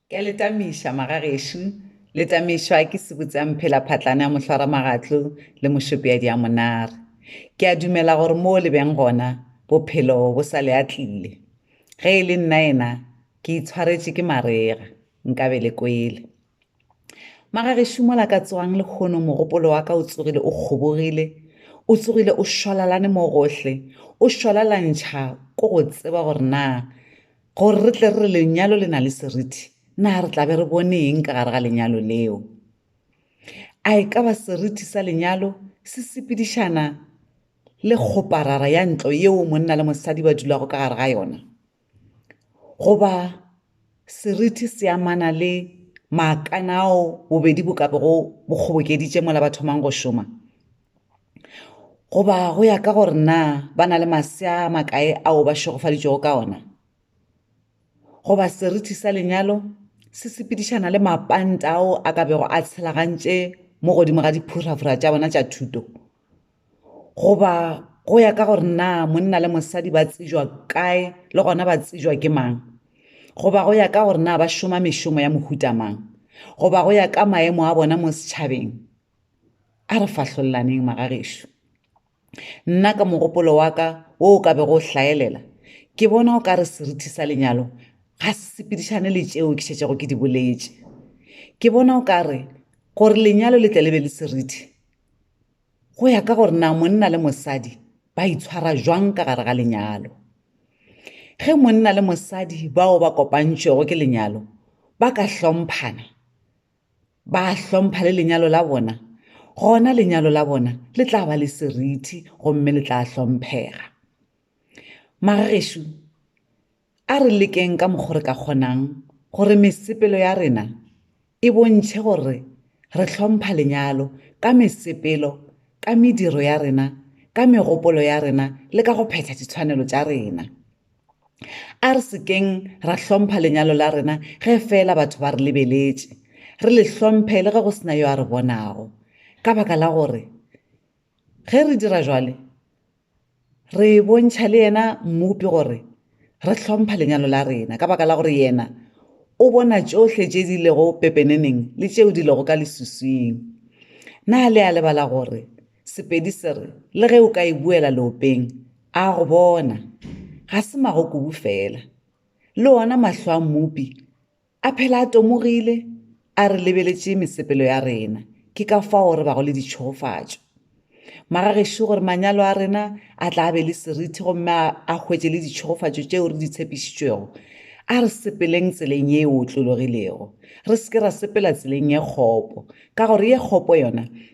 Ke a le tamiša, magagešo. Le tamišwa ke sebutsamphelaphatlane a mohlwaramagatlo le mošopeadi a monare. Ke a dumela gore moo le beng gona, bophelo bo sa le atlile. Ge e le nnaena, ke itshwaretše ke marega, nkabe le kwele. Magagešo, mola ka tswang lehono mogopolo wa ka o tsogile o kgobogile, o tsogile o šwalalane mo gohle, o šwalalantšha ko go tseba gore na Gore re tle re re lenyalo le na le seriti, na re tla be re bone eng ka gare ga lenyalo leo? A e ka ba seriti sa lenyalo se sepedišana le kgoparara ya ntlo yeo monna le mosadi ba dulago ka gare ga yona? Goba seriti se amana le maakana ao bobedi bo ka bego bo kgobokeditše mola ba thomang go šoma? Goba go ya ka gore na ba na le masea a makae ao ba šegofaditšwego ka ona. Goba seriti sa lenyalo se sepedišana le mapanta ao a ka bego a tshelagantše mo godimo ga diphuraphura tša bona tša thuto. Goba go ya ka gore na monna le mosadi ba tsejwa kae le gona ba tsejwa ke mang. Goba go ya ka gore na ba šoma mešomo ya mohuta mang. Goba go ya ka maemo a bona mo setšhabeng. a re fahlollaneng magagešo nna ka mogopolo wa ka wo o ka bego o hlaelela ke bona o ka re serithi sa lenyalo ga se sepedišane le tšeo ke šetšego ke di boletše ke bona o ka re gore lenyalo le tle le be le serithi go ya ka gore na monna le mosadi ba itshwara jwang ka gare ga lenyalo ge monna le mosadi bao ba kopantšwego ke lenyalo ba ka hlomphana ba hlompha le lenyalo la bona, gona lenyalo la bona le tla ba le seriti gomme le tla hlomphega. Magagešo, a re lekeng ka mokgwa re ka kgonang gore mesepelo ya rena e bontšhe gore re hlompha lenyalo ka mesepelo, ka mediro ya rena, ka megopolo ya rena le ka go phetha ditshwanelo tša rena. A re se keng ra hlompha lenyalo la rena ge feela batho ba re lebeletše, re le hlomphe le ge go se na yo a re bonago, ka baka la gore ge re dira bjalo re bontšha le yena Mmopi gore re hlompha lenyalo la rena, ka baka la gore yena o bona tšohle tše di lego pepeneneng le tšeo di lego ka lesuswing. Na le a lebala gore Sepedi se re, Le ge o ka e buela leopeng, a go bona. Ga se magokubu feela. Le ona mahlo a Mmopi a phela a tomogile, a re lebeletše mesepelo ya rena, ke ka fao re bago le ditšhogofatšo. Magagešo gore manyalo a rena a tla be le seriti gomme a hwetše le ditšhogofatšo tšeo re di tshepišitšwego, a re sepeleng tseleng ye e otlologilego, re se ke ra sepela tseleng ye kgopo, ka gore ye kgopo yona